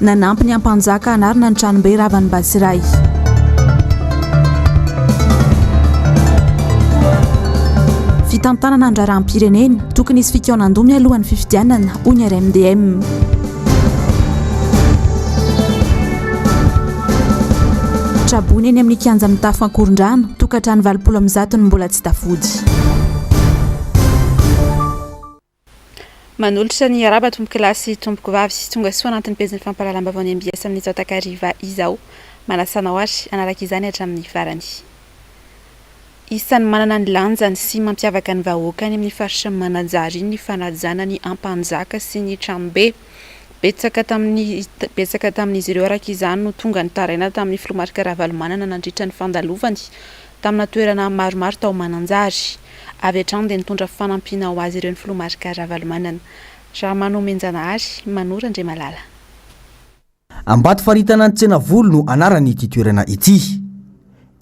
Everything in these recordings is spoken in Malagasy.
Nanampy ny Ampanjaka hanarina ny Tranombe ravan'i Batsirai. fitantanana ny raharaham-pirenena, tokony hisy fikaonandoha mialoha ny fifidianana, hoy ny RMDM. Traboina eny amin'ny kianja mitafo ankorondrano, tokantrano valopolo amin'ny zato no mbola tsy tafody. Manolotra ny iaraba tompokolahy sy tompokovavy tonga soa anatin'ny pejin'ny fampahalalam-baovao ny mbs amin'izao takariva izao. Manasa anao ary hanaraka izany hatramin'ny farany. Isan'ny manana ny lanjany sy mampiavaka ny vahoaka any amin'ny faritra Mananjary ny fanajana ny Ampanjaka sy ny Tranobe. Betsaka tamin'ny betsaka tamin'izy ireo araka izany no tonga nitaraina tamin'ny filoha Marc Ravalomanana nandritra ny fandalovany tamina toerana maromaro tao Mananjary. Avy hatrany dia nitondra fanampiana ho azy ireo ny filoha Marc Ravalomanana. Ramanomenjanahary, Mano Randriamalala. Ambatofaritana Antsenavolo no anaran'ity toerana ity.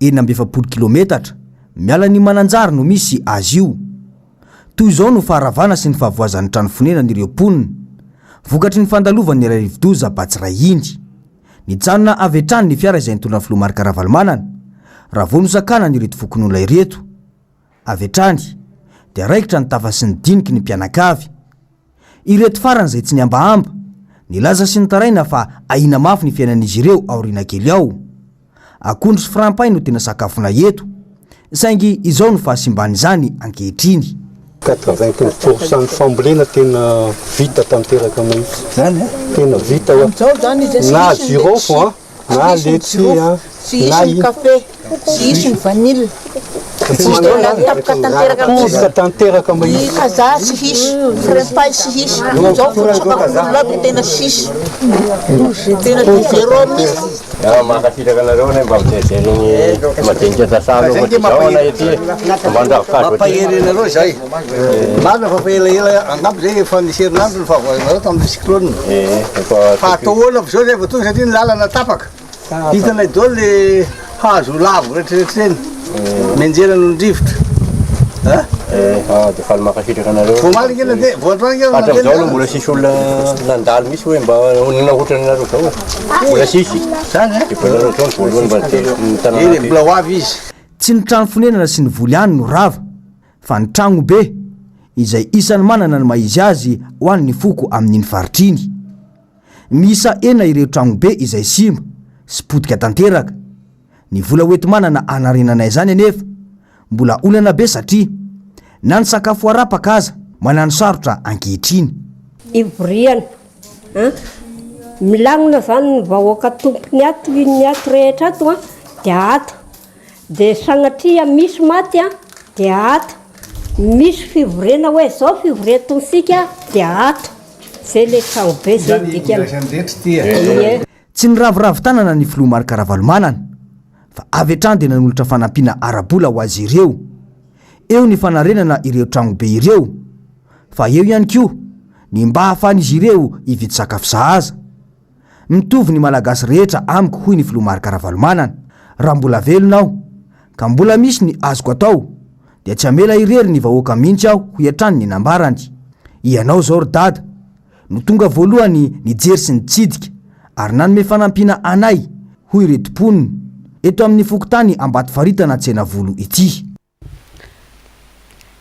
Enina amby efapolo kilometatra miala an'i Mananjary no misy azy io. Toy izao no faharavana sy ny fahavoazan'ny trano fonenan'ireo mponina, vokatry ny fandalovan'ny ilay rivodoza Batsirai iny. Nijanona avy hatrany ny fiara izay nitondra ny filoha Marc Ravalomanana. Raha vao nosakanana ireto fokonolona ireto avy hatrany dia raikitra ny tafa sy ny diniky ny mpianakavy. Ireto farany izay tsy nihambahamba, nilaza sy nitaraina fa ahiana mafy ny fiainan'izy ireo aoriana kely ao. Akondro sy frampay no tena sakafonay eto, saingy izao no fahasimban'izany ankehitriny. Quatre-vingt-quinze pour cent ny fambolena tena vita tanteraka mihitsy. Tena vita hoe na jirofo an, na letchis an, na akondro tanteraka mihitsy. Mankasitraka anareo anay mba mijery ny madinika sasa aloha fa tsy zao anay aty mba andravokazo aty. Mampahery anareo izay. Marina fa efa elaela angamba izay efa nisy herinandro ny fahavoazanareo tamin'ilay cyclone. Fa atao ahoana avy izao zay vao tonga satria ny lalana tapaka. Hitanay daholo le hazo lavo rehetra rehetra ireny. Mianjera noho ny rivotra. Ah dia faly mankasitraka anareo. Vao omaly ange nandeha, vao androany ange nandeha. Hatramizao aloha mbola tsisy olona nandalo mihitsy hoe mba nanao ohatran'ny anareo zao e. Mbola tsisy. Zany an. Efa nareo zao ny voalohany mba niteny ny tanàna. Eny e, mbola ho avy izy. Tsy ny trano fonenana sy ny voly ihany no rava, fa ny tragno be, izay isan'ny manana ny maha izy azy ho an'ny foko amin'iny faritra iny. Miisa enina ireo tragno be izay simba sy potika tanteraka. Ny vola hoenti-manana hanarenana izany anefa mbola olana be satria na ny sakafo harapaka aza manano sarotra ankehitriny. Ivoriana an! Milagnona izany ny vahoaka tompony ato inona ato rehetra ato an dia ato. Dia sanatria misy maty an dia ato. Misy fivoriana hoe izao fivoriantsika dia ato. Izay ilay tranobe izay dikany. Izany ifandraisan'ny rehetra ity e. Ie. Tsy niraviravy tanana ny filoha Marc Ravalomanana fa avy hatrany dia nanolotra fanampiana ara-bola ho azy ireo. Eo ny fanarenana ireo tranobe ireo, fa eo ihany koa ny mba ahafahan'izy ireo hividy sakafo sahaza. Mitovy ny Malagasy rehetra amiko hoy ny filoha Marc Ravalomanana, raha mbola velona aho ka mbola misy ny azoko atao dia tsy hamela irery ny vahoaka mihitsy aho hoy hatrany ny nambarany. Ianao izao ry dada. no tonga voalohany nijery sy nitsidika ary nanome fanampiana anay, hoy ireto mponina, eto amin'ny fokontany Ambatofaritana Tsenavolo ity.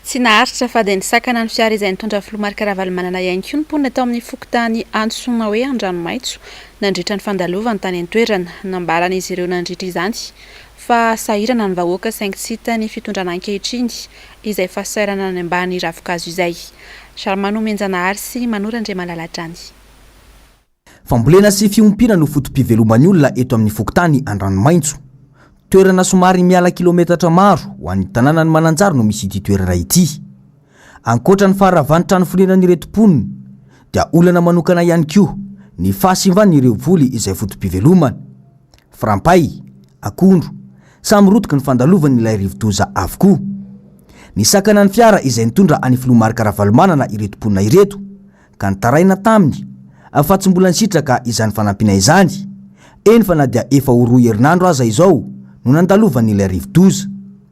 Tsy naharitra fa dia nisakana ny fiara izay nitondra filoha Marc Ravalomanana ihany koa ny mponina tao amin'ny fokontany antsoina hoe Andranomaitso nandritra ny fandalovany tany an-toerana. Nambaran'izy ireo nandritra izany fa sahirana ny vahoaka saingy tsy hita ny fitondrana ankehitriny izay fasairana any ambany ravinkazo izay. Jarmano Omenjanahary sy Manoro Andriamalala hatrany. Fambolena sy fiompiana no foto-piveloman'ny olona eto amin'ny fokontany Andranomaitso. Toerana somary miala kilometatra maro ho an'ny tanànan'i Mananjary no misy ity toerana ity. Ankoatra ny faharavan'ny trano fonenan'ireto mponina dia olana manokana ihany koa ny fahasimban'ireo voly izay votom-pivelomana. Frampay, akondro, samy rotiky ny fandalovan'ilay rivodoza avokoa. Nisakana ny fiara izay nitondra an'i Filoha Marc Ravalomanana ireto mponina ireto ka nitaraina taminy fa tsy mbola nisitraka izany fanampiana izany, eny fa na dia efa ho roa herinandro aza izao no nandalovan'ilay rivodoza.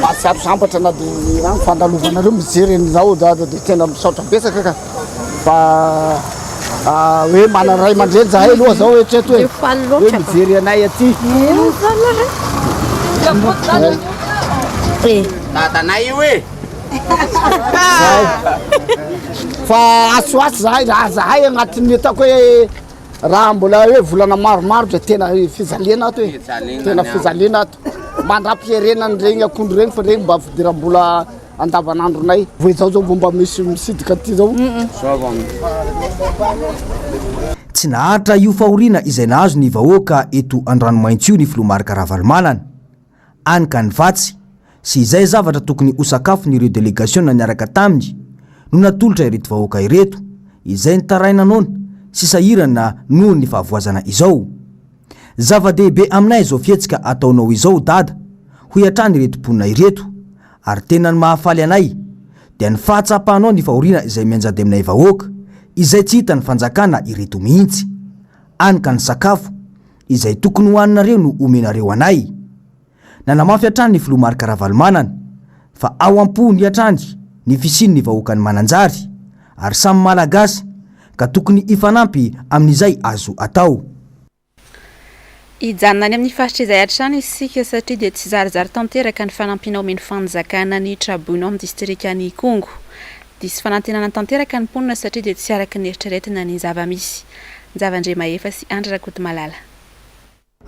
Mahatsiaro sambatra na dia an fandalovanareo mijery an'i Raold aza dia tena misaotra betsaka ka. Fa hoe mana ray aman-dreny zahay aloha zao eritrereto hoe hoe mijery anay aty. Dadanay io e! Fa atsy ho atsy zahay raha zahay agnatin'ny ataoko hoe raha mbola hoe volana maromaro dia tena fijaliana ato e. Tena fijaliana ato. mandra-piherena an'ireny akondro ireny fa ireny mba fidiram-bola andavanandronay. Vao izao izao vao mba misy misidika aty izao. Tsy naharitra io fahoriana izay nahazo ny vahoaka eto Andranomaintso io ny filoha Marc Ravalomanana. Any ka ny fatsy, sy izay zavatra tokony ho sakafon'ireo delegasiona niaraka taminy no natolotra ireto vahoaka ireto, izay nitaraina noana sy sahirana noho ny fahavoazana izao. Zava-dehibe aminay izao fihetsika ataonao izao Dada, hoy hatrany ireto mponina ireto. Ary tena ny mahafaly anay dia ny fahatsapanao ny fahoriana izay mianjady aminay vahoaka izay tsy hitan'ny fanjakana ireto mihitsy. Any ka ny sakafo izay tokony hohaninareo no omenareo anay. Nanamafy hatrany ny filoha Marc Ravalomanana fa ao am-pony hatrany ny fisian'ny vahoakan'i Mananjary ary samy Malagasy ka tokony hifanampy amin'izay azo atao. Hijanona any amin'ny faritra izay hatrany isika satria dia tsy zarizary tanteraka ny fanampiana omen'ny fanjakana ny traboina ao amin'ny distrikan'Ikongo. Diso fanantenana tanteraka ny mponina satria dia tsy araka ny eritreretina ny zava-misy. Njava Andriamahefa sy Andry Rakotomalala.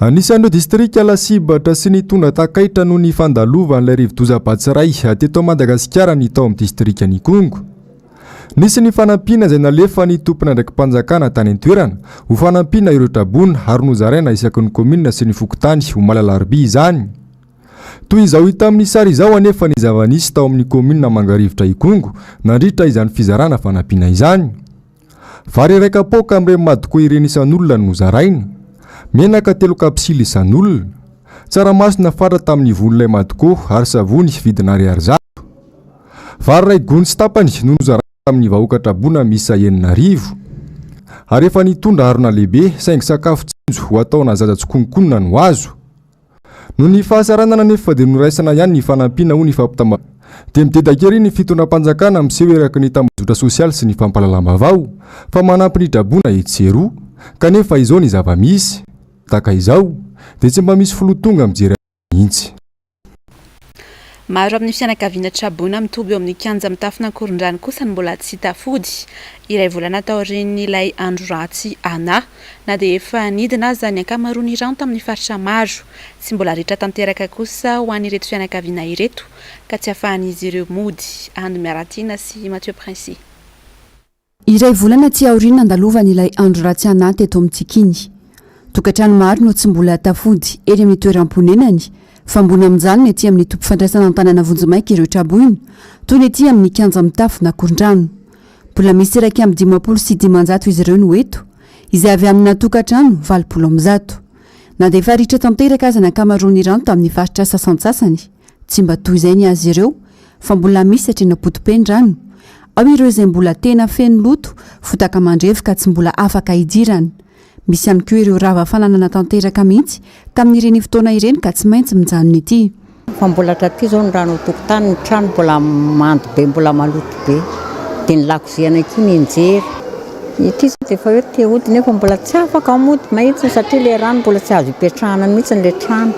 Anisan'ireo distrika lasibatra sy nitondra takaitra noho ny fandalovan'ilay rivodoza Batsirai teto Madagasikara ny tao amin'ny distrikan'Ikongo. Nisy ny fanampiana izay nalefan'ny tomponandraiki-panjakana tany an-toerana ho fanampiana ireo traboina ary nozaraina isaky ny kaominina sy ny fokontany omaly alarobia izany. Toy izao hita amin'ny sary izao anefa ny zava-nisy tao amin'ny kaominina Mangarivotra Ikongo nandritra izany fizarana fanampiana izany. Vary iray kapoaka amin'ireny madiko ireny isan'olona no zaraina. Menaka telo kapsily isan'olona. Tsaramaso nafatra tamin'ny von'ilay madiko ary savony vidina ariary zato. Vary iray gony sy tapany no nozaraina tamin'ny vahoaka traboina miisa enina arivo. Ary efa nitondra harona lehibe saingy sakafo tsinjo ho ataonà zaza tsikononkonona no azo. Noho ny fahasaranana anefa dia noraisana ihany ny fanampiana, hoy ny fampitam-baovao. Dia midedaka ery ny fitondram-panjakana miseho eraky ny tambajotra sosialy sy ny fampahalalam-baovao fa manampy ny draboina etsy sy eroa. Kanefa izao ny zava-misy, tahaka izao, dia tsy mba misy filoha tonga mijery an'izany mihitsy. Maro amin'ny fianakaviana traboina mitoby eo amin'ny kianja mitafon'Ankorondrano kosa no mbola tsy tafody, iray volana taorian'ilay andro ratsy Ana. Na dia efa nidina aza ny ankamaroan'ny rano tamin'ny faritra maro, tsy mbola ritra tanteraka kosa ho an'ireto fianakaviana ireto ka tsy ahafahan'izy ireo mody, Ando Miaratiana sy Mathieu Prince. Iray volana aty aoriana nandalovany ilay andro ratsy anà teto amintsika iny. Tokantrano maro no tsy mbola tafody eny amin'ny toeram-ponenany, fa mbola mijanona ety amin'ny toby fandraisana an-tanàna vonjimaika ireo tra-boina, toy ny ety amin'ny kianja mitafo na korondrano. Mbola misy iraika amby dimampolo sy dimanjato izy ireo no eto, izay avy amina tokantrano valopolo amby zato. Nandefa ritra tanteraka aza ny ankamaroan'ny rano tamin'ny faritra sasantsasany. Tsy mba toy izay ny azy ireo, fa mbola misy atrena potipen-drano. Ao ireo izay mbola tena feno loto, fotaka mandrevy ka tsy mbola afaka hidirana. Misy ihany koa ireo rava fananana tanteraka mihitsy tamin'ireny fotoana ireny ka tsy maintsy mijanona ety. Fa mbola hatraty izao ny rano an-tokotany, ny trano mbola mando be, mbola maloto be. Dia ny lakozia anay koa nenjery. Ity izao dia efa hoe te hody nefa mbola tsy afaka mody mihitsy satria ilay rano mbola tsy azo ipetrahana mihitsy ilay trano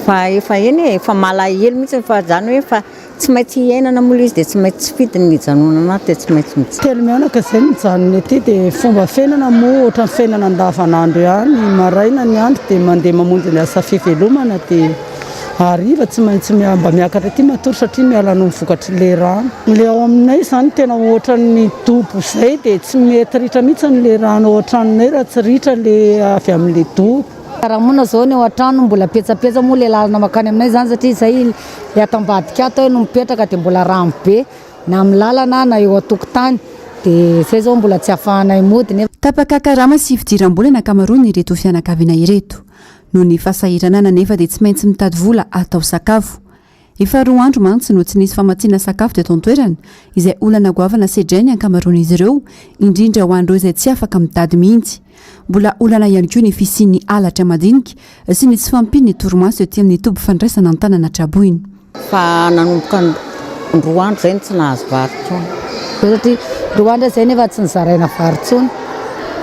fa efa eny e, efa malahelo mihitsy fa izany hoe efa tsy maintsy hiainana moa ilay izy dia tsy maintsy tsy fidiny ny hijanonana ato dia tsy maintsy mijanona. Telo mianaka izay no mijanona ety dia ny fomba fiainana moa ohatran'ny fiainana andavanandro ihany, maraina ny andro dia mandeha mamonjy ny asa fivelomana dia. Hariva tsy maintsy mba miakatra aty matory satria miala noho ny vokatry le rano. Le ao aminay zany tena ohatran'ny dobo zay de tsy mety ritra mihitsy ny le rano ao an-tranonay raha tsy ritra le avy amin'le dobo. Raha moa na zao ny ao an-trano mbola petsapetsa moa le lalana makany aminay zany satria zay le ato ambadika ato hay no mipetraka de mbola rano be na amin'ny lalana na eo an-tokotany de zay zao mbola tsy afahanay mody nefa Tapaka karama sy fidiram-bola ny ankamaroan'ireto fianakaviana ireto. Noho ny fahasahiranana anefa dia tsy maintsy mitady vola hatao sakafo. Efa roa andro mantsy no tsy nisy famatsiana sakafo teto an-toerana, izay olana goavana sedrain'ny ankamaroan'izy ireo, indrindra ho an'ireo izay tsy afaka mitady mihitsy. Mbola olana ihany koa ny fisian'ny halatra madinika sy ny tsy fahampian'ny torimaso ety amin'ny toby fandraisana an-tanana traboina. Fa nanomboka roa andro izay no tsy nahazo vary intsony. Satria roa andro izay nefa tsy nozaraina vary intsony.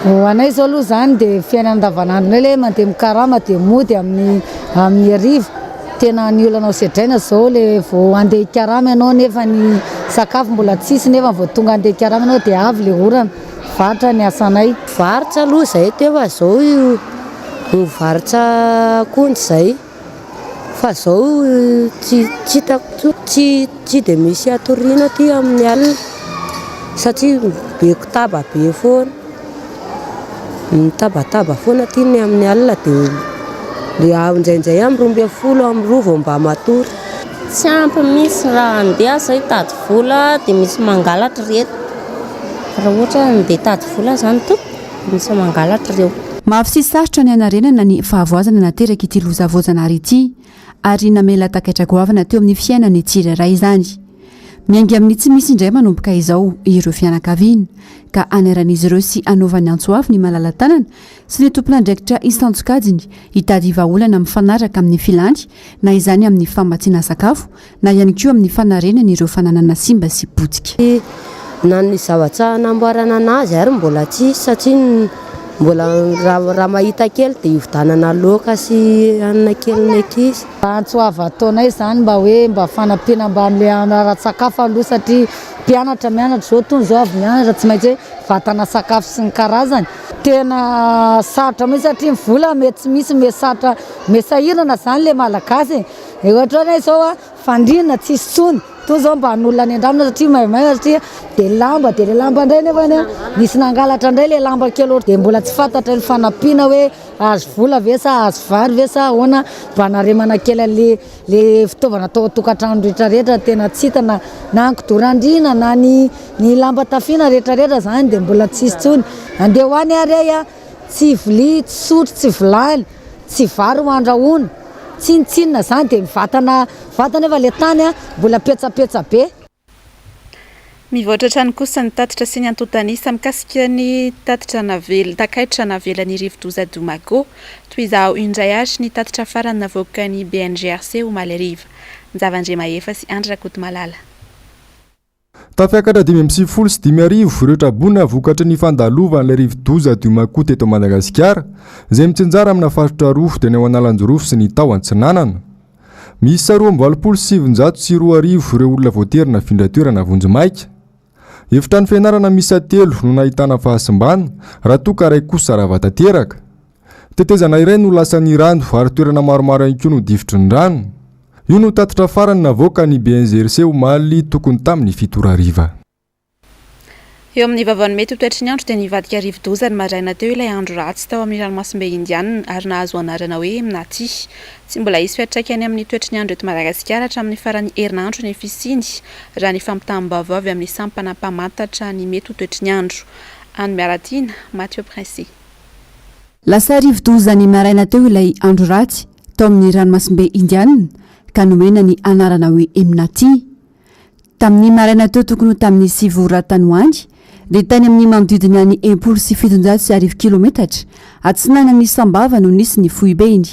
Ho anay izao aloha izany dia fiainana andavanandronay ilay hoe mandeha mikarama dia mody amin'ny hariva. Tena ny olana hosedraina izao ilay vao handeha hikarama ianao nefa ny sakafo mbola tsy hisy nefa vao tonga handeha hikarama ianao dia avy ilay orana. Varotra ny asanay. Varotra aloha izay, teo fa izao io varotra akondro izay. Fa zao tsy hitako tsony, tsy tsy de misy atoriana aty amin'ny alina satria be kotaba be foana, mitabataba foana aty ny amin'ny alina dia indraindray amin'ny roa ambin'ny folo amin'ny roa vao mba matory. Tsy ampy mihintsy raha handeha za hitady vola dia misy mangalatra ireto, raha ohatra hoe handeha hitady vola zany tompoko. Lasa mangalatra ireo. Mafy sy sarotra ny hanarenana ny fahavoazana naterak'ity loza voajanahary ity, ary namela takaitra goavana teo amin'ny fiainan'ny tsirairay izany. Miainga amin'ny tsy misy indray manomboka izao ireo fianakaviana, ka hanairan'izy ireo sy hanaovany antso avo ny malala-tanana sy ny tompon'andraikitra isan-tsokajiny hitady vahaolana mifanaraka amin'ny filany, na izany amin'ny famatsiana sakafo na ihany koa amin'ny fanarenana ireo fananana simba sy potika. Na ny zavatra namboarana an'azy ary mbola tsisy satria mbola raha mahita kely dia hividanana laoka sy hanina kely ny ankizy. Antso avo ataonay izany mba hoe mba fanampiana mba amin'ilay ara-tsakafo aloha satria mpianatra mianatra izao itony izao avy mianatra tsy maintsy hoe vatana sakafo sy ny karazany. Tena sarotra mihintsy satria ny vola mety tsy misy mety sarotra mety sahirana izany ilay malagasy e! Ohatra hoe zao a, fandriana tsisy tsony, toa zao mba hanolona any an-drano satria maimaina satria de lamba de le lamba ndray nefany a nisy nangalatra ndray le lamba kely ohatra de mbola tsy fantatra ny fanampiana hoe ahazo vola ve sa ahazo vary ve sa ahoana mba hanaremana kely anle le fitaovana atao an-tokantrano rehetra rehetra tena tsy hita na na ny kidorandriana na ny ny lamba tafiana rehetra rehetra zany de mbola tsisy tsony, andeha ho any ary ay a, tsy vilia, tsy sotro, tsy vilany. tsy vary ho andrahoina, tsinontsinona izany dia mivatana vata nefa ilay tany mbola petsapetsa be. Mivoatra hatrany kosa ny tatitra sy ny antontan'isa mikasika ny tatitra navel takaitra navelan'ny rivodoza Domago. Toy izao indray ary ny tatitra farany navoakan'ny BNGRC omaly hariva. Njava Andriamahefa sy Andry Rakotomalala. Tafiakatra dimy amby sivifolo sy dimy arivo ireo tra-boina vokatry ny fandalovan'ilay rivodoza Diomako teto Madagasikara, izay mitsinjara amina faritra roa, dia ny ao Analanjirofo sy ny tao Antsinanana. Miisa roa amby valopolo sy sivinjato sy roa arivo ireo olona voatery nafindra toerana vonjimaika. Efitrano fianarana miisa telo no nahitana fahasimbana, raha toa ka iray kosa rava tanteraka. Tetezana iray no lasan'ny rano ary toerana maromaro ihany koa no difotry ny rano. Io no tatitra farany navoaka ny BNGRC omaly tokony tamin'ny fito ora hariva. Eo amin'ny vavan'ny mety ho toetry ny andro dia nivadika rivodoza ny maraina teo ilay andro ratsy tao amin'ny ranomasimbe Indiana ary nahazo anarana hoe Emnati. Tsy mbola hisy fiantraikany amin'ny toetry ny andro eto Madagasikara hatramin'ny faran'ny herinandro ny fisiany raha ny fampitam-baovao avy amin'ny sampana mpamantatra ny mety ho toetry ny andro. Anny Miaratiana, Mathieu Princi. Lasa rivodoza ny maraina teo ilay andro ratsy tao amin'ny ranomasimbe Indiana ka nomena ny anarana hoe Emnati. Tamin'ny maraina teo tokony ho tamin'ny sivy ora tany ho any, dia tany amin'ny manodidina ny enimpolo sy fitonjato sy arivo kilometatra atsinanan'i Sambava no nisy ny foibeny.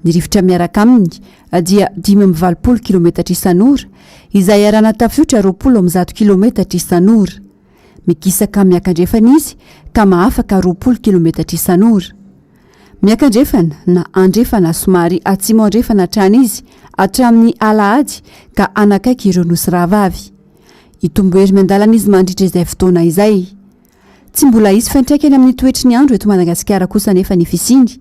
Ny rivotra miaraka aminy dia dimy amby valopolo kilometatra isan'ora, izay arana tafiotra roapolo amby zato kilometatra isan'ora. Migisaka miakandrefana izy ka mahafaka roapolo kilometatra isan'ora. Miakandrefana na andrefana somary atsimo-andrefana hatrany izy hatramin'ny alahady ka hanakaiky ireo nosy rahavavy. Hitombo hery miandalana izy mandritra izay fotoana izay. Tsy mbola hisy fiantraikany amin'ny toetry ny andro eto Madagasikara kosa anefa ny fisiany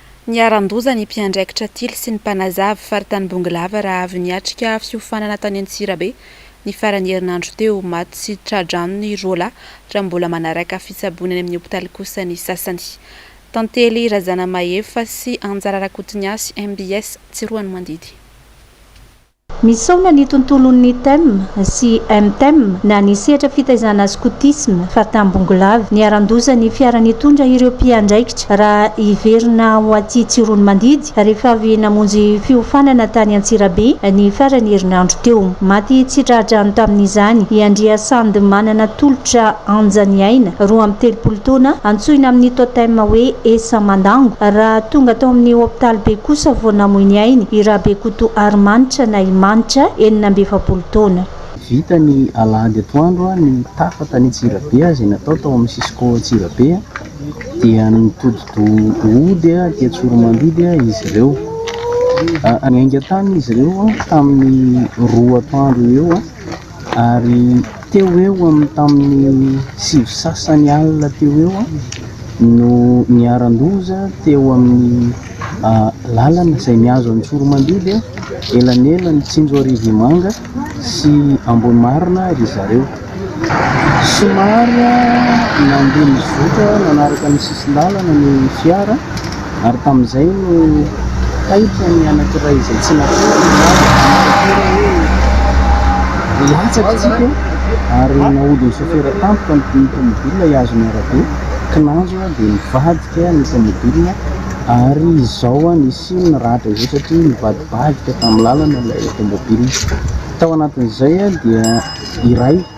Niharan-doza ny mpiandraikitra tily sy ny mpanazavy faritany Bongolava raha avy niatrika fiofanana tany Antsirabe ny faran'ny herinandro teo. Maty tsy tra-drano ny roa lahy raha mbola manaraka fitsaboana any amin'ny hopitaly kosa ny sasany. Tantely Razanamahefa sy Anjara Rakotoniasy, mbs, Tsiroanomandidy. Misaona ny tontolon'ny Tem sy Mtem na ny sehatra fitaizana skotisma fa tambongolava niharan-doza ny fiara nitondra ireo mpiandraikitra raha hiverina ho aty Tsiroanomandidy rehefa avy namonjy fiofanana tany Antsirabe ny faran'ny herinandro teo. Maty tsy tra-drano tamin'izany i Andriasandy Manana tolotra Anja Niaina, roa amby telopolo Taona, antsoina amin'ny totem hoe Esa Mandango, raha tonga tao amin'ny hopitaly be kosa vao namoy ny ainy i Rabekoto Harimanitra na i Manitra, enina amby efapolo taona. Vita ny alahady atoandro ny tafa tany Antsirabe izay natao tao amin'ny Cisco Antsirabe dia nitodi-doha hody aty Tsoromandidy izy ireo. Niainga tany izy ireo tamin'ny roa atoandro eo. Ary teo ho eo amin'ny tamin'ny sivy sy sasany alina teo ho eo no niharan-doza teo amin'ny lalana izay mihazo an'i Tsoromandidy, elanelan'i Tsinjoarivomanga sy Ambohimarina ry zareo. Somary nandeha nizotra nanaraka ny sisin-dalana ny fiara. ary tamin'izay no taitra ny anankiray izay tsy natory ny lalana. Latsaka isika ary nahodin'ny sôfera tampoka ny tômôbilina hihazo ny arabe. Kinanjo dia nivadika ny tômôbilina ary izao nisy ny ratra izao satria nivadibadika tamin'ny lalana ilay tômôbilina. Tao anatin'izay dia iray.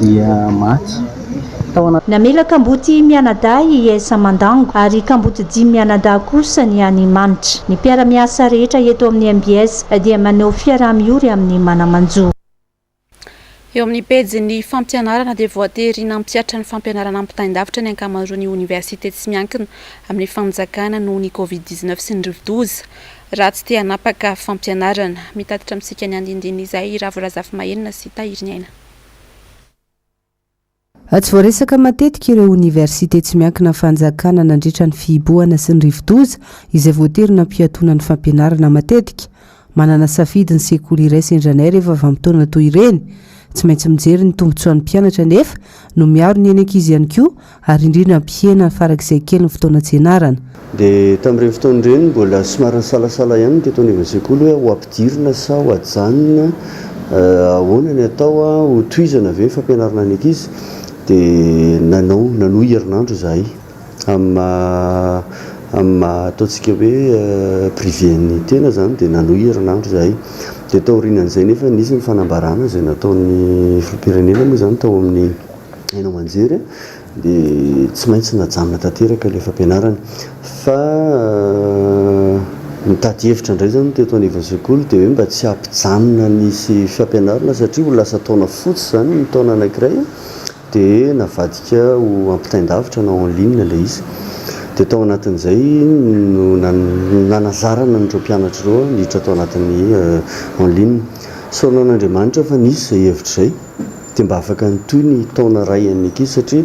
dia maty. Namela kamboty mianadahy i Esa Mandango ary kamboty dimy mianadahy kosa ny any Manitra. Ny mpiara-miasa rehetra eto amin'ny mbs dia maneho fiaraha-miory amin'ny mana-manjo. Eo amin'ny pejin'ny fampianarana dia voatery nampihatra ny fampianarana ampitain-davitra ny ankamaroan'ny oniversite tsy miankina amin'ny fanjakana noho ny Covid dix-neuf sy ny rivodoza. Raha tsy te hanapaka fampianarana. Mitatitra amintsika ny andinindin'izay i Ravo Razafimahelina sy Tahiriniaina. Tsy voaresaka matetika ireo oniversite tsy miankina fanjakana nandritra ny fihibohana sy ny rivodoza izay voatery nampihatona ny fampianarana matetika. Manana safidy ny sekoly iray sendra anay rehefa vanim-potoana toy ireny. Tsy maintsy mijery ny tombotsoan'ny mpianatra nefa no miaro ny ainy ankizy ihany koa ary indrindra mpihena farak'izay kely ny fotoana tsy ianarana. Dia tamin'ireny fotoana ireny mbola somary nisalasala ihany ny teto anivon'ny sekoly hoe ho ampidirina sa ho ajanona, ahoana ny atao, ho tohizana ve ny fampianarana ny ankizy? Dia nanao, nanohy herinandro izahay amin'ny maha, amin'ny maha ataontsika hoe privé ny tena izany dia nanohy herinandro izahay. Dia taorianan'izay nefa nisy ny fanambarana izay nataon'ny filoham-pirenena moa izany tao amin'ny. haino aman-jery dia tsy maintsy najanona tanteraka ilay fampianarana fa nitady hevitra indray izany ny teto anivon'ny sekoly dia hoe mba tsy hampijanona ny fampianarana satria ho lasa taona fotsy izany ny taona anankiray dia navadika ho ampitain-davitra na en ligne ilay izy dia tao anatin'izay no nanazarana an'ireo mpianatra ireo niditra tao anatin'ny en ligne. Sorona an'Andriamanitra fa nisy izay hevitra izay. dia mba afaka nitohy ny taona iray any aty satria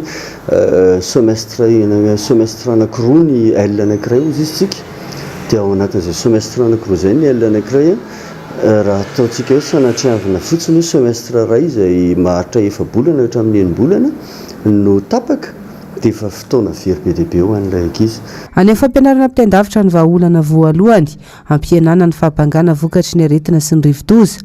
semestre semestre anakiroa ny L anakiray hozy izy tsika dia ao anatin'izay semestre anakiroa izay ny L anakiray a raha ataontsika hoe sanatriavina fotsiny hoe semestre iray izay maharitra efa-bolana hatramin'ny enim-bolana no tapaka dia efa fotoana very be dia be ho an'ilay ankizy. Any amin'ny fampianarana ampitain-davitra ny vahaolana voalohany hampihenana ny fahabangana vokatry ny aretina sy ny rivodoza.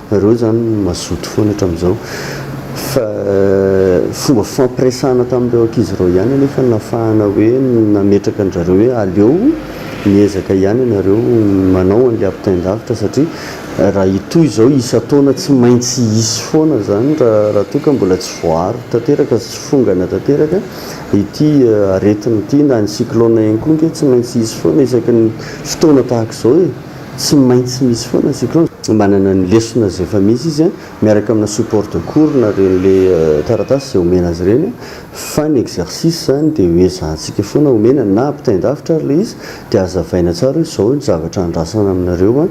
Nareo zany no mazoto foana hatramin'izao. Fa fomba fifampiresahana tamin'ireo ankizy ireo ihany anefa no nahafahana hoe nametraka an-dRareo hoe aleo miezaka ihany ianareo manao an'ilay ampitain-davitra satria raha hitohy izao isan-taona tsy maintsy hisy foana izany raha toa ka mbola tsy voaaro tanteraka sy tsy fongana tanteraka ity aretina ity na ny cyclone ihany koa ange tsy maintsy hisy foana isaky ny fotoana tahaka izao e. Tsy maintsy misy foana cyclone. Manana ny lesona izay efa misy izy miaraka amina support de cours na ireny le taratasy izay omena azy ireny fa ny exercice izany dia hoe ezahantsika foana omena na ampitain-davitra ary le izy dia azavaina tsara hoe izao ny zavatra andrasana aminareo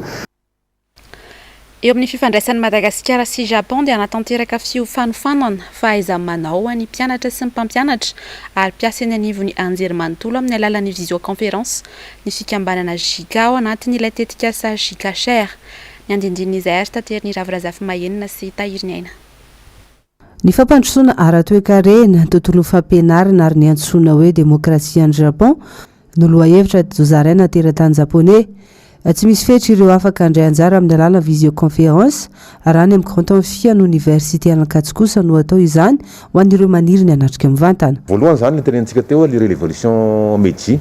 Eo amin'ny fifandraisan'i Madagasikara sy Japon dia hanatanteraka fiofanofànana fahaiza-manao ho an'ny mpianatra sy ny mpampianatra ary mpiasa eny anivon'ny anjerimanontolo amin'ny alalan'ny visioconférence ny fikambanana JICA ao anatin'ilay tetikasa JICA Share. Ny andindin'izay ary taterin'i Ravo Razafimahenina sy Tahiriniaina. Ny fampandrosoana ara-toekarena, ny tontolon'ny fampianarana ary ny antsoina hoe demokrasia any Japon no lohahevitra ady Zozarena teratany Japoney. Tsy misy fetra ireo afaka handray anjara amin'ny alalan'ny visioconférence, raha any amin'ny Grand Amphian'ny Oniversite an'Ankatso kosa no atao izany ho an'ireo maniry ny hanatrika mivantana. Voalohany izany ilay tenenintsika teo hoe le relévolution Meiji.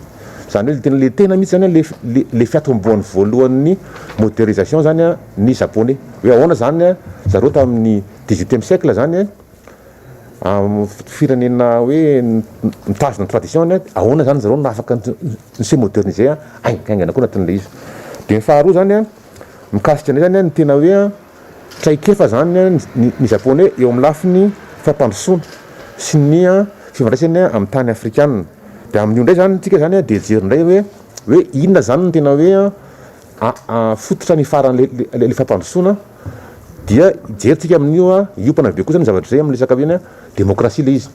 Izany hoe le tena le tena mihitsy izany le le fiatombohan'ny voalohan'ny modernisation izany ny Japoney. Hoe ahoana izany zareo tamin'ny. Dix-huitième siècle zany an, firenena hoe mitazona ny tradition-ny an, ahoana zany zareo no afaka mi-se moderniser haingaingana koa anatin'ilay izy. Dia ny faharoa zany an, mikasika an'izay zany an, ny tena hoe an, traikefa zany an, ny Japoney eo amin'ny lafiny fampandrosoana sy ny an, fifandraisany an, amin'ny tany afrikanina. Dia amin'io indray zany, tsika zany an, dia hijery indray hoe hoe inona zany no tena hoe an, fototra ny faran'ilay fampandrosoana dia hijerintsika amin'io hiompana be kosa ny zavatra izay amin'ny resaka hoe ny demokrasia ilay izy.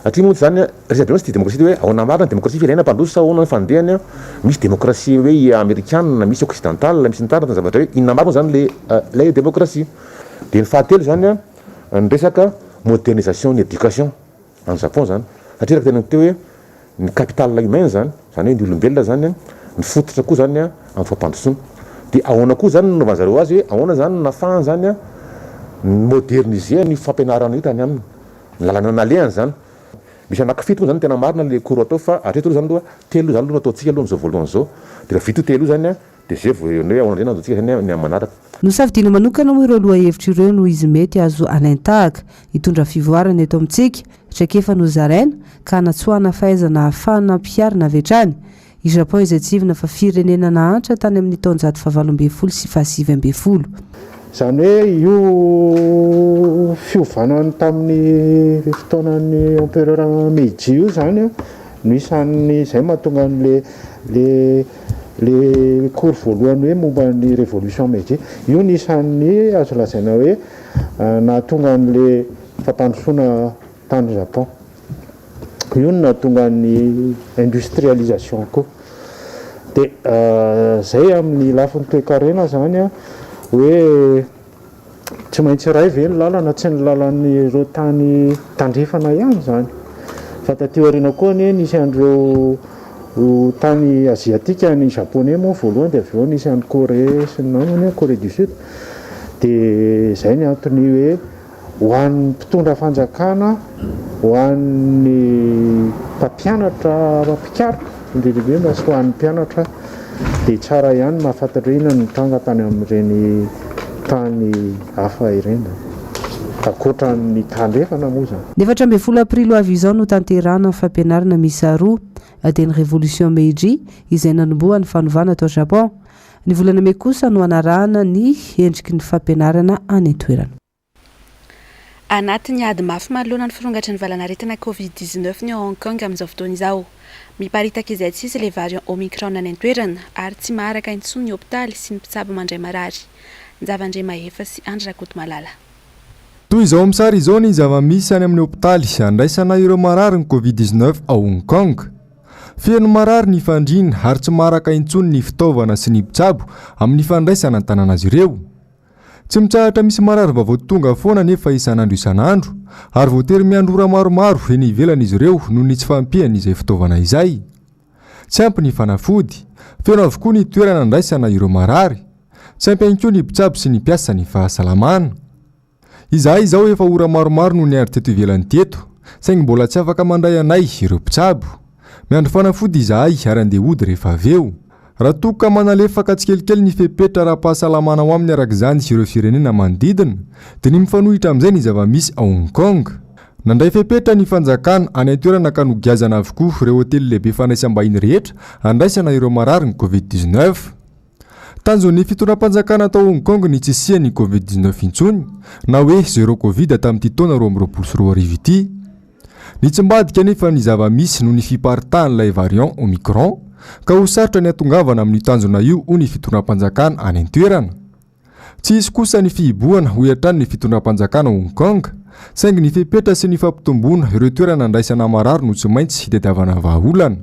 Satria moa izany resabe mantsy dia demokrasia hoe ahoana marina ny demokrasia firenena mpandroso sa ahoana ny fandehany an? Misy demokrasia hoe amerikana, misy occidental, misy ny taratra ny zavatra hoe inona marina izany ilay ilay demokrasia. Dia ny fahatelo izany an ny resaka modernisation ny éducation. any Japon zany satria araka tena teo hoe ny capital humain zany zany hoe ny olombelona zany an ny fototra koa zany an amin'ny fampandrosoana dia ahoana koa zany no nanaovany zareo azy hoe ahoana zany no nahafahany zany an ny moderniser an'io fampianarana io tany aminy ny lalana nalehany zany misy anaky fito moa zany tena marina le cours atao fa hatreto aloha zany aloha telo aloha zany no ataontsika aloha am'zao voalohany zao dia raha vita io telo io zany an Dia zay vao ny hoe ahoana indray no azontsika saina ny amin'ny manaraka. Nosafidiana manokana moa ireo lohahevitra ireo noho izy mety azo alain-tahaka, hitondra fivoarana eto amintsika, traikefa nozaraina, ka hanatsoahana fahaizana ahafahana ampiharina avy hatrany. I Japon izay tsihivina fa firenena nahantra tany amin'ny taonjato fahavalo ambin'ny folo sy fahasivy ambin'ny folo. Izany hoe io fiovana tamin'ny fotoanan'ny empereur Meiji io izany no isan'ny izay mahatonga an'ilay Le cours voalohany hoe momba ny révolution Meiji, io no isan'ny azo lazaina hoe nahatonga an'le fampandrosoana tany Japon. Io no nahatonga ny industrialisation koa. De zay amin'ny lafiny toekarena zany hoe Tsy maintsy iray ve ny lalana? Tsy ny lalan'ireo tany tandrefana ihany izany fa taty aoriana koa anie nisy an'ireo tany aziatika, ny japoney moa voalohany dia avy eo nisy any Corée sy ny namany any, Corée du Sud, dia izay ny antony hoe ho an'ny mpitondra fanjakana, ho an'ny mpampianatra mpikaroka. Indridraindray mantsy ho an'ny mpianatra dia tsara ihany ny mahafantatra hoe inona no nitranga tany amin'ireny tany hafa ireny, ankoatra ny tandrefana moa izany. Ny efatra ambin'ny folo aprily ho avy izao no tanterahana ny fampianarana miisa roa dia ny Revolution Meiji izay nanomboha ny fanovana tao Japon. Ny volana mey kosa no hanarahana ny endriky ny fampianarana any an-toerana. Anatin'ny ady mafy manoloana ny firongatry ny valan'aretina Covid dix-neuf ny ao Hong Kong amin'izao fotoana izao. Miparitaka izay tsy izy ilay variant Omicron any an-toerana ary tsy maharaka intsony ny hopitaly sy ny mpitsabo mandray marary. Njava Andriamahefa sy Andry Rakotomalala. Toy izao amin'ny sary izao ny zava-misy any amin'ny hopitaly handraisana ireo marary ny Covid dix-neuf ao Hong Kong. Feno marary ny fandriana ary tsy maharaka intsony ny fitaovana sy ny mpitsabo amin'ny fandraisana an-tanana azy ireo. Tsy mitsahatra misy mararim-baovao tonga foana anefa isan'andro isan'andro, ary voatery miandry ora maromaro eny ivelany izy ireo noho ny tsy fahampian'izay fitaovana izay. Tsy ampy ny fanafody, feno avokoa ny toerana andraisana ireo marary, tsy ampy ihany koa ny mpitsabo sy ny mpiasa ny fahasalamana. Izahay izao efa ora maromaro no niandry teto ivelany teto, saingy mbola tsy afaka mandray anay ireo mpitsabo. Miandry fanafody izahay ary andeha hody rehefa avy eo. Raha toa ka manalefaka tsikelikely ny fepetra ara-pahasalamana ao aminy araka izany sy ireo firenena manodidina, dia ny mifanohitra amin'izay ny zava-misy ao Hong Kong. Nandray fepetra ny fanjakana any an-toerana ka nogiazana avokoa ireo hotely lehibe fandraisam-bahiny rehetra handraisana ireo marary ny Covid dix neuf. Tanjon'ny fitondram-panjakana tao Hong Kong ny tsy hisian'ny Covid dix neuf intsony na hoe zero Covid tamin'ity taona roa amby roapolo sy roa arivo ity. Nitsy ambadika anefa ny zava-misy noho ny fiparitahan'ilay variant Omicron ka ho sarotra ny hatongavana amin'io tanjona io hoy ny fitondram-panjakana any an-toerana. Tsy hisy kosa ny fihibohana hoy hatrany ny fitondram-panjakana Hong Kong saingy ny fepetra sy ny fampitomboana ireo toerana andraisana marary no tsy maintsy hitadiavana vahaolana.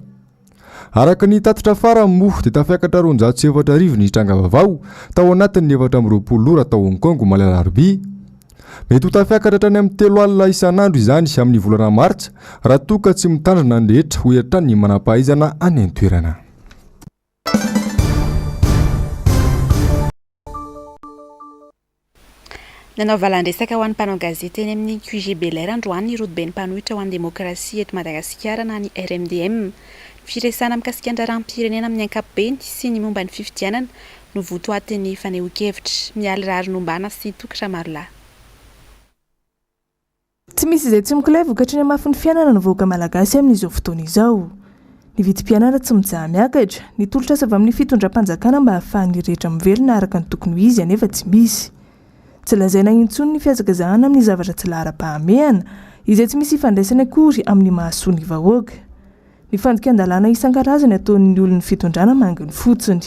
Araka ny tatitra farany moa dia tafiakatra roanjato sy efatra arivo ny tranga vaovao tao anatin'ny efatra amby roapolo ora tao Hong Kong omaly alarobia. Mety ho tafiakatra hatrany amin'ny telo alina isan'andro izany amin'ny volana martsa raha toa ka tsy mitandrina ny rehetra, hoy hatrany ny manampahaizana any an-toerana. Nanao valan-dresaka ho an'ny mpanao gazety eny amin'ny QG Belair androany ny rodoben'ny mpanohitra ho an'ny demokrasia eto Madagasikara na ny RMDM. Ny firesahana mikasika ny raharaham-pirenena amin'ny ankapobeny sy ny momba ny fifidianana no votoatin'ny fanehoan-kevitra. Mialy Raharinombana sy Toky Ramarolahy. Tsy misy izay tsy mikolay vokatry ny hamafin'ny fiainana ny vahoaka malagasy amin'izao fotoana izao. Ny vidim-piainana tsy mijaha miakatra, ny tolotr'asa avy amin'ny fitondram-panjakana mba hahafahan'ny rehetra mivelona araka ny tokony ho izy anefa tsy misy. Tsy lazaina intsony ny fihazakazahana amin'ny zavatra tsy laharam-pahamehana, izay tsy misy ifandraisany akory amin'ny mahasoa ny vahoaka. Ny fandikan-dalàna isan-karazany ataon'ny olon'ny fitondrana manginy fotsiny.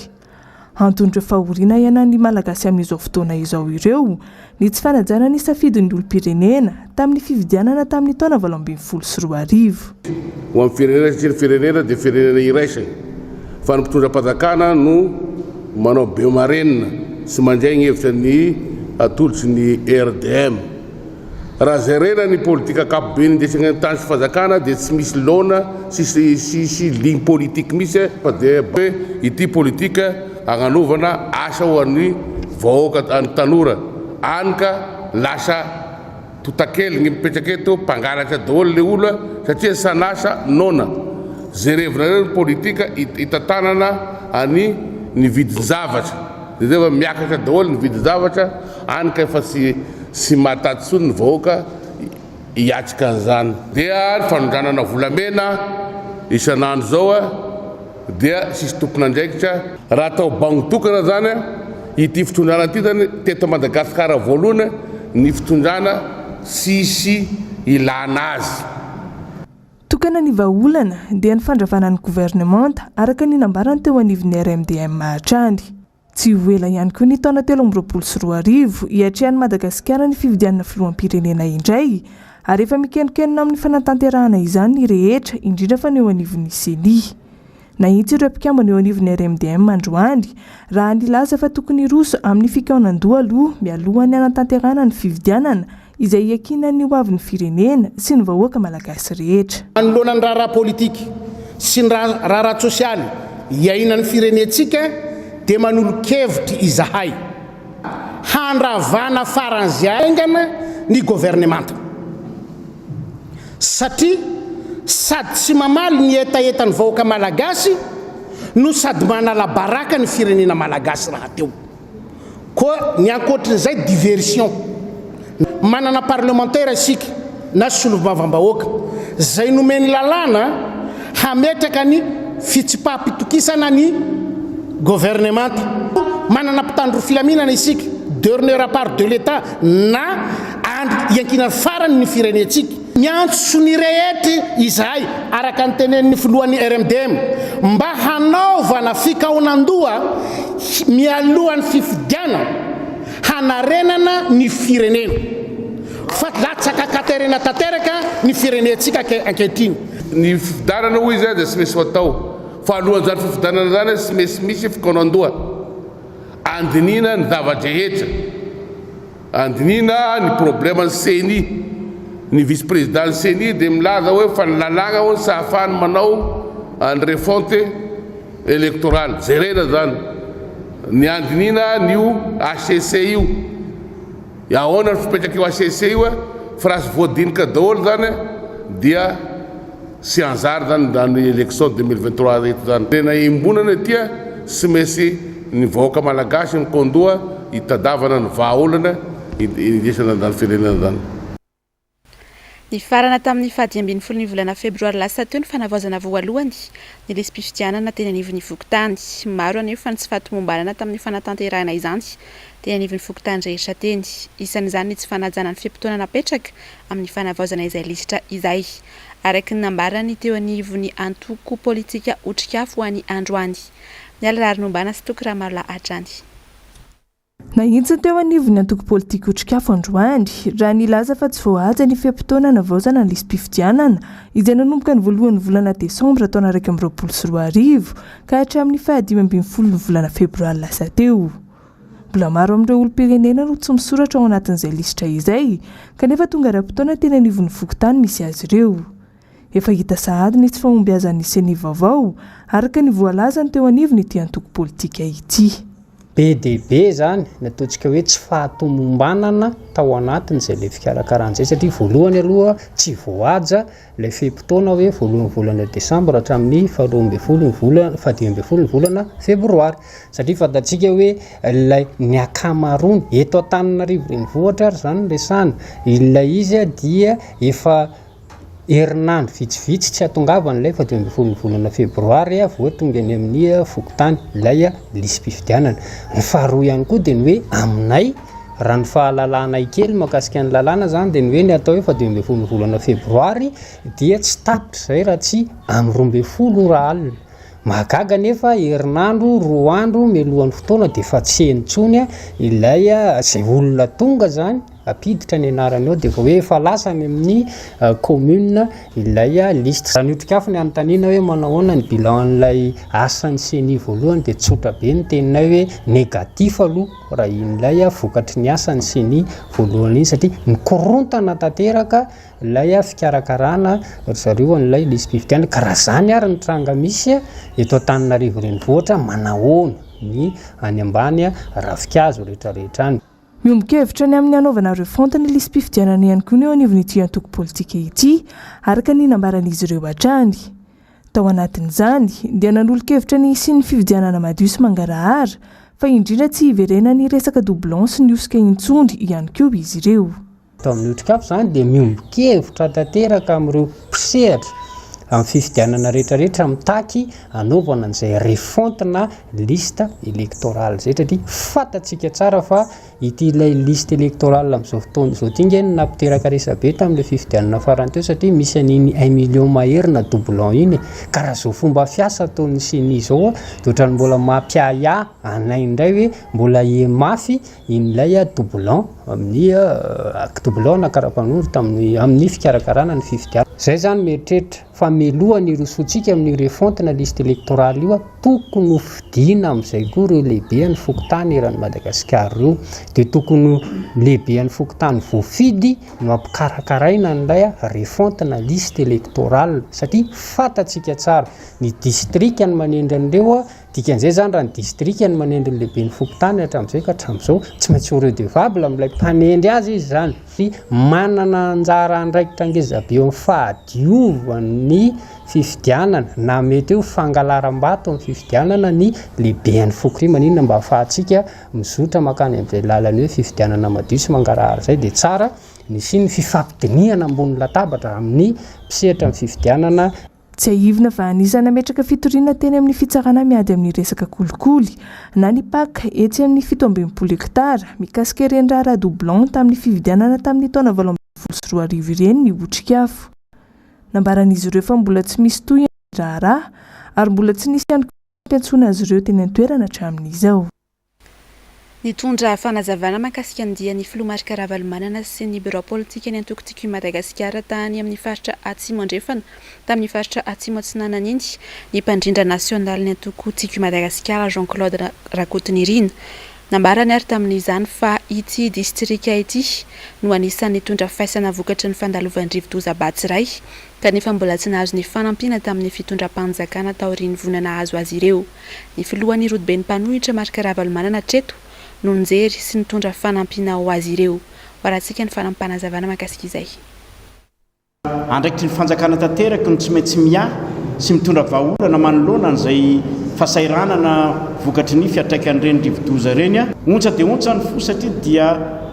Anton'ireo fahoriana iainan'ny Malagasy amin'izao fotoana izao ireo ny tsy fanajana ny safidin'ny olom-pirenena tamin'ny fifidianana tamin'ny taona valo ambin'ny folo sy roa arivo. Ho an'ny firenena satria ny firenena dia firenena iraisany fa ny mpitondram-panjakana no manao bemarenina sy mandray ny hevitra ny atolotry ny RDM. Raha jerena ny politika ankapoben'ny design tany sy fanjakana dia tsy misy laona sy ligne politique misy fa dia hoe ity politika hagnanovana asa ho an'ny vahoaka an'ny tanora any ka lasa totakely ny mipetraka eto mpangalatra daholo le olona satria san'asa noana jerevinareo ny politika hitantanana an'ny ny vidin-javatra jereo fa miakatra daholo ny vidin-javatra Any ka efa tsy tsy mahataty tsony ny vahoaka hiatrika an'izany. Dia ny fanondranana volamena isan'andro izao dia tsisy tompon'andraikitra. Raha atao bango tokana izany ity fitondrana ity izany teto Madagasikara voalohany ny fitondrana tsisy ilana azy. Tokana ny vahaolana dia ny fandravana ny governemanta araka ny nambarany teo anivon'ny RMDM hatrany. Tsy ho ela ihany koa ny taona telo amby roapolo sy roa arivo hiatrehan'i Madagasikara ny fifidianana filoham-pirenena indray ary efa mikenokenona amin'ny fanatanterahana izany ny rehetra indrindra fa ny eo anivon'ny Ceni. Nahitsy ireo mpikambana eo anivon'ny RMDM androany raha nilaza fa tokony hiroso amin'ny fikaonan-doha aloha mialohan'ny hanatanterahana ny fifidianana izay hiakiana ny ho avin'ny firenena sy ny vahoaka malagasy rehetra. Manoloana ny raharaha politika sy ny raharaha tsosialy iainan'ny firenentsika dia manolo-kevitra izahay handravana faran'izay haingana ny governemanta satria sady tsy mamaly ny hetahetan'ny vahoaka malagasy no sady manala baraka ny firenena malagasy rahateo. Koa ny ankoatrin'izay diversion. Manana parlemantera isika na solombavambahoaka izay nomeny lalàna hametraka ny fitsipaham-pitokisana ny governemanta. Manana mpitandro filaminana isika, durneur à part de l'Etat na andry iankinan'ny farany ny firenentsika. Miantso ny rehetra izahay, araka ny tenenin'ny filohan'ny RMDM, mba hanaovana fikaonandoha mialohan'ny fifidianana hanarenana ny firenena, fa latsaka katerina tanteraka ny firenentsika ankehitriny. Ny fifidianana hoy izy dia tsy misy ho atao, fa alohan'izany fifidianana izany tsy misy misy fikaonandoha, handinihina ny zava-drehetra. Handinihina ny probleman'ny ceni, ny vice-prezidan'ny ceni dia milaza hoe fa ny lalàna hono tsy ahafahany manao ny refonte elektoraly. Jerena izany ny handinihina an'io hcc io. Ahoana ny fipetrak'io hcc io e? Fa raha tsy voadinika daholo izany dia. sy anjara zany zany election deux mille vingt trois reto zany tena iombonana aty sy maintsy ny vahoaka malagasy mikondoha hitadavana ny vahaolana indesana zany firenena zany. Nifarana tamin'ny fahadimy ambin'ny folon'ny volana febroary lasa teo ny fanavaozana voalohany ny lisi-pifidianana teny anivon'ny fokontany. Maro anefa ny tsy fahatomombanana tamin'ny fanatanterahina izany teny anivon'ny fokontany rehetra teny. Isan'izany ny tsy fanajana ny fe-potoana napetraka amin'ny fanavaozana izay lisitra izay. araka ny nambaran'ny teo anivon'ny antoko politika Otrikafo ho an'i Androany, Mialy Raharinombana sy Toky Ramarolahy hatrany. Nahitsiny teo anivon'ny antoko politika Otrikafo androany, raha nilaza fa tsy voahaja ny fe-potoana anavaozana ny lisi-pifidianana, izay nanomboka ny voalohan'ny volana desambra taona iraika amby roapolo sy roa arivo ka hatramin'ny fahadimy ambin'ny folon'ny volana febroary lasa teo. Mbola maro amin'ireo olom-pirenena no tsy misoratra ao anatin'izay lisitra izay, kanefa tonga ara-potoana teny anivon'ny fokontany misy azy ireo. Efa hita sahady ny tsy fahombiazan'ny Ceni vaovao, araka ny voalazany teo anivon'ity antoko politika ity. Be dia be izany ny ataontsika hoe tsy fahatomombanana tao anatin'izay lefy fikarakarana izay, satria voalohany aloha tsy voahaja, Ilay fe-potoana hoe voalohan'ny volana desambra hatramin'ny faharoa ambin'ny folo ny volana, fahadimy ambin'ny folo ny volana febroary. Satria fantatsika hoe ilay ny ankamaroany, eto Antananarivo renivohitra ary izany no resahana, ilay izy dia efa herinandro vitsivitsy tsy hahatongavany ilay fahadimy ambin'ny folo ny volana febroary vao tonga eny amin'ny fokontany ilay lisi-pifidianana. Ny faharoa ihany koa dia ny hoe aminay, Raha ny fahalalanay kely mahakasika ny lalàna zany dia ny hoe ny atao hoe faha dimy ambin'ny folo ny volana febroary dia tsy tapitra izay raha tsy amin'ny roa ambin'ny folo ora alina. Mahagaga anefa herinandro roa andro mialohan'ny fotoana dia efa tsy eny intsony ilay izay olona tonga zany hampiditra ny anarany ao dia vao hoe efa lasa any amin'ny commune ilay liste. Raha ny otrikafo ny hanontaniana hoe manao ahoana ny bilan an'ilay asan'ny ceni voalohany dia tsotra be ny teninay hoe négatif aloha. Raha ilay vokatry ny asan'ny ceni voalohany iny satria mikorontana tanteraka ilay fikarakarana ry zareo an'ilay lisi-pifidianana ka raha izany ary ny tranga misy eto Antananarivo renivohitra manahoana ny any ambany ravinkazo rehetrarehetra any. Miombon-kevitra ny amin'ny hanaovana refonte ny lisi-pifidianana ihany koa ny eo anivon'ity antoko politika ity, araka ny nambaran'izy ireo hatrany. Tao anatin'izany dia nanolo-kevitra ny hisian'ny fifidianana madio sy mangarahara, fa indrindra tsy hiverenan'ny resaka doublons sy ny hosoka intsony ihany koa izy ireo. Eto amin'ny Otrikafo izany dia miombon-kevitra tanteraka amin'ireo mpisehatra amin'ny fifidianana rehetrarehetra mitaky hanaovana an'izay refonte na liste électorale izay, satria fantatsika tsara fa Ity ilay liste électorale amin'izao fotoana izao ity nge no nampiteraka resabe tamin'ilay fifidianana farany teo satria misy an'iny un million mahery na doublon iny e! ka raha izao fomba fiasa ataon'ny ceni izao a! dia ohatran'ny mbola mampiahiahy anay indray hoe mbola hihe mafy in'ilay doublon amin'ny doublon na karapanondro tamin'ny amin'ny fikarakarana ny fifidianana. Izay izany mieritreritra. fa meloha ny rosoantsika amin'io refonte na liste electorale io, tokony ho fidiana amin'izay koa ireo lehibehan'ny fokontany eran'i Madagasikara ireo, dia tokony ho lehibehan'ny fokontany voafidy no ampikarakaaraina an'ilay refonte na liste electorale satria fantatsika tsara, ny distrika no manendry an'ireo Dikan'izay izany raha ny distrika no manendry ny lehiben'ny fokontany hatramin'izay ka hatramin'izao, tsy maintsy ho redevable amin'ilay mpanendry azy izy izany, satria manana anjara andraikitra ngezabe eo amin'ny fahadiovan'ny fifidianana na mety hoe ho fangalaram-bato amin'ny fifidianana ny lehiben'ny foko. Ry maninona mba ahafahantsika mizotra mankany amin'izay lalan'ny hoe fifidianana madio sy mangarahara izay dia tsara ny hisian'ny fifampidinihana ambony latabatra amin'ny mpisetra amin'ny fifidianana, Tsiahivina fa anisan'ny nametraka fitoriana teny amin'ny fitsarana miady amin'ny resaka kolikoly na ny pac etsy amin'ny fito amby enimpolo hektara mikasika ireny raharaha doublons tamin'ny fividianana tamin'ny taona valo ambin'ny folo sy roa arivo ireny ny Otrikafo. Nambaran'izy ireo fa mbola tsy misy tohiny ny raharaha ary mbola tsy nisy ihany koa ny fampiantsoana azy ireo teny an-toerana hatramin'izao. Nitondra fanazavana mahakasika ny dian'ny filoha Marc Ravalomanana sy ny birao politika ny antoko Tiako i Madagasikara tany amin'ny faritra Atsimo Andrefana tamin'ny faritra Atsimo Atsinanana iny ny mpandrindra nasionalin'ny antoko Tiako i Madagasikara Jean Claude Rakotonirina. Nambarany ary tamin'izany fa ity distrika ity no anisan'ny nitondra faisana vokatry ny fandalovan'ny rivodoza Batsirai kanefa mbola tsy nahazo ny fanampiana tamin'ny fitondram-panjakana taorian'ny voina nahazo azy ireo. Ny filohan'ny rodoben'ny mpanohitra Marc Ravalomanana hatreto no nijery sy nitondra fanampiana ho azy ireo. Hoarantsika ny fanapanazavana mahakasika izay. Andraikitr'ny fanjakana tanteraka ny tsy maintsy miahy sy mitondra vahaolana manoloana an'izay fasahiranana vokatry ny fiatraikan'ireny rivodoza ireny. Ontsa dia ontsa ny fo satria dia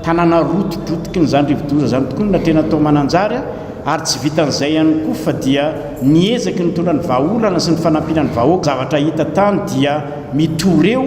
tanàna rotidrotikin'izany rivodoza izany tokoa no natrehina tao Mananjary. Ary tsy vitan'izay ihany koa fa dia ny ezaky nitondra ny vahaolana sy ny fanampiana ny vahoaka zavatra hita tany dia mitoreo,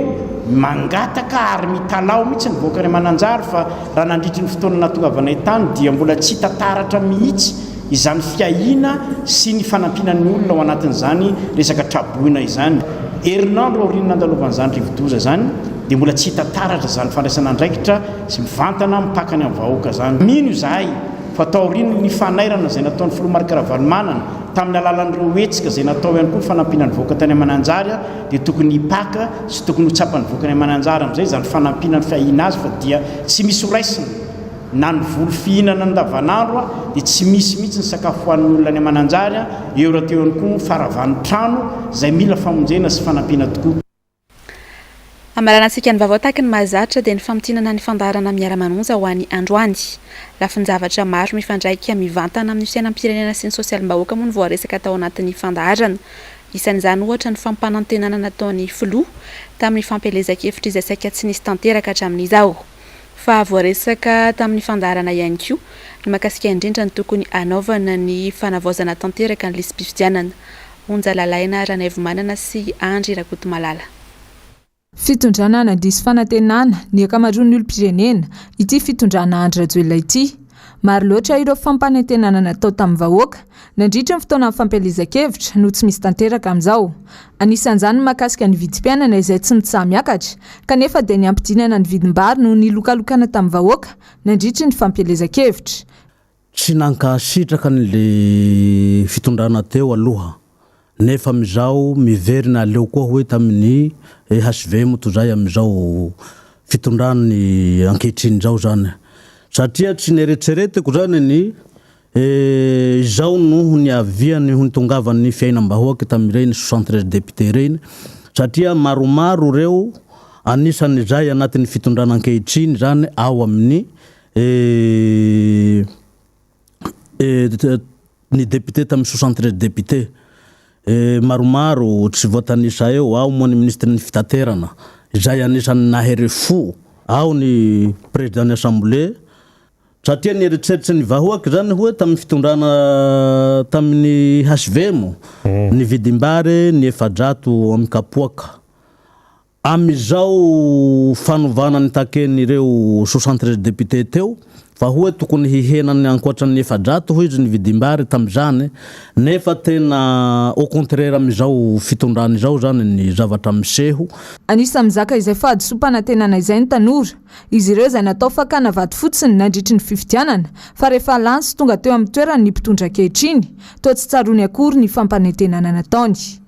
mangataka ary mitalaho mihitsy ny vahoaka any Mananjary fa raha nandritry ny fotoana nahatongavanay tany dia mbola tsy hita taratra mihitsy izany fiahiana sy ny fanampiana ny olona ao anatin'izany resaka traboina izany. Herinandro aorian'ny nandalovan'izany rivodoza izany dia mbola tsy hita taratra izany fandraisana andraikitra sy mivantana mipaka any amin'ny vahoaka izany. Mino izahay. fa taorian'ny fanairana izay nataon'ny filoha Marc Ravalomanana tamin'ny alalan'ireo hetsika izay natao ihany koa ny fanampiana ny vahoaka tany Mananjary dia tokony hipaka sy tokony ho tsapan'ny vahoaka any Mananjary amin'izay izany fanampiana ny fiahiana azy fa dia tsy misy ho raisina na ny voly fihinana andavanandro dia tsy misy mihitsy ny sakafo hoan'ny olona any Mananjary eo rahateo ihany koa faravany trano izay mila famonjena sy fanampiana tokoa Hamarana antsika ny vaovao tahaky ny mahazatra dia ny famintinana ny fandaharana Miara Manonja ho an'ny androany. Lafin-javatra maro mifandraika mivantana amin'ny fiainam-pirenena sy ny sosialim-bahoaka moa no voaresaka tao anatin'ny fandaharana. Isan'izany ohatra ny fampanantenana nataon'ny filoha tamin'ny fampielezan-kevitra izay saika tsy nisy tanteraka hatramin'izao. fa voaresaka tamin'ny fandaharana ihany koa ny mahakasika indrindra ny tokony hanaovana ny fanavaozana tanteraka ny lisi-pifidianana, Onja Lalaina Ranaivomanana sy Andry Rakotomalala. Fitondrana nandiso fanantenana ny ankamaroan'ny olom-pirenena ity fitondrana Andry Rajoelina ity. Maro loatra ireo fampanentenana natao tamin'ny vahoaka nandritry ny fotoanan'ny fampielezan-kevitra no tsy misy tanteraka amin'izao. Anisan'izany ny mahakasika ny vidim-piainana izay tsy mitsaha-miakatra kanefa dia ny hampidinana ny vidim-bary noho ny lokalokana tamin'ny vahoaka nandritry ny fampielezan-kevitra. Tsy nankasitraka ny fitondrana teo aloha nefa amizao miverina aleo koa hoe tamin'ny HVM toy izay amizao fitondrany ankehitriny izao izany satria tsy neretseretiko izany ny izao noho ny aviany ho nitongavan'ny fiainam-bahoaka tamin'ireny soixante treize députés ireny satria maromaro ireo anisan'izay anatin'ny fitondrana ankehitriny izany ao amin'ny ny député tamin'ny soixante treize député maromaro tsy voatanisa eo, ao moa ny ministry ny fitaterana izay anisan'ny nahery fo, ao ny président ny assemblée, satria ny eritreritry ny vahoaka izany hoe tamin'ny fitondrana tamin'ny HVM ny vidim-bary ny efajato amin'ny kapoaka. Amin'izao fanovana nitakian'ireo soixante treize députés teo fa hoy tokony hihena ny ankoatra ny efajato hoy izy ny vidim-bary tamin'izany nefa tena au contraire amin'izao fitondrana izao izany ny zavatra miseho. Anisan'ny mizaka izay fahadisoam-panantenana izay ny tanora. Izy ireo izay natao fakana vato fotsiny nandritry ny fifidianana fa rehefa lany sy tonga teo amin'ny toerany ny mpitondra ankehitriny toa tsy tsaroany akory ny fampanentenana nataony.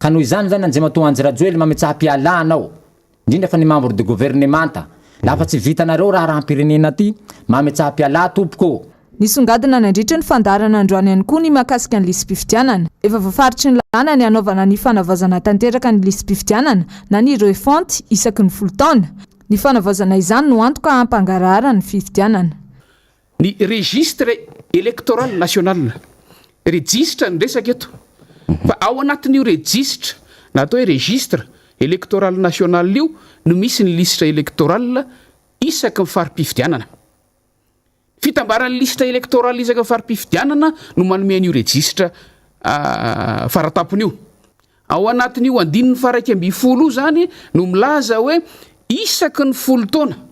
Ka noho izany zany Andriamatoa Andry Rajoely mametsaha piala anao, indrindra fa ny membre de governemanta, la fa tsy vitanareo raharaham-pirenena ty, mametsaha piala tompoko ô. Nisongadina nandritry ny fandaharana androany ihany koa ny mahakasika ny lisi-pifidianana. Efa voafaritry ny lalàna ny hanaovana ny fanavaozana tanteraka ny lisi-pifidianana na ny refonte isaky ny folo taona. Ny fanavaozana izany no antoka hampangaraharan'ny fifidianana. Ny registre electoral national, rejisitra ny resaka eto, fa ao anatin'io rejisitra na atao hoe registre electoral national io no misy ny lisitra electoral isaky ny fari-pifidianana. Ny fitambaran'ny lisitra electoral isaky ny fari-pifidianana no manome an'io rejisitra faratampony io. Ao anatin'io andininy faha-iraika ambin'ny folo io izany no milaza hoe isaky ny folo taona,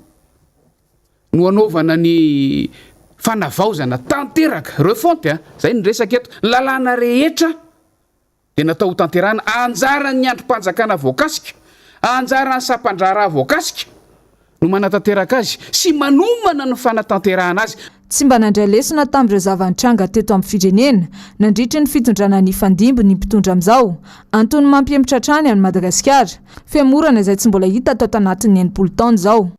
no anaovana ny fanavaozana tanteraka, refonte a, izay no resaka eto, ny lalàna rehetra dia natao hotanterahana, anjaran'ny andrim-panjakana voakasika, anjaran'ny sampan-draharaha voakasika no manatanteraka azy sy manomana ny fanatanterahana azy. Tsy mba nandray lesona tamin'ireo zava-nitranga teto amin'ny firenena nandritry ny fitondrana nifandimby ny mpitondra amin'izao, antony mampihemotra hatrany an'i Madagasikara, fihemorana izay tsy mbola hita tato anatin'ny enimpolo taona izao.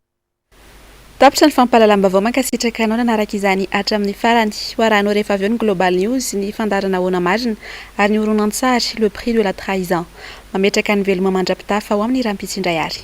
Tapitra ny fampahalalam-baovao mankasitraka anao nanaraka izany hatramin'ny farany. Ho arahanao rehefa avy eo ny Global News, ny fandaharana Ahoana Marina? ary ny horonantsary Le prix de la trahison. Mametraka ny veloma mandra-pitafa ao amin'ny rahampitso indray ary.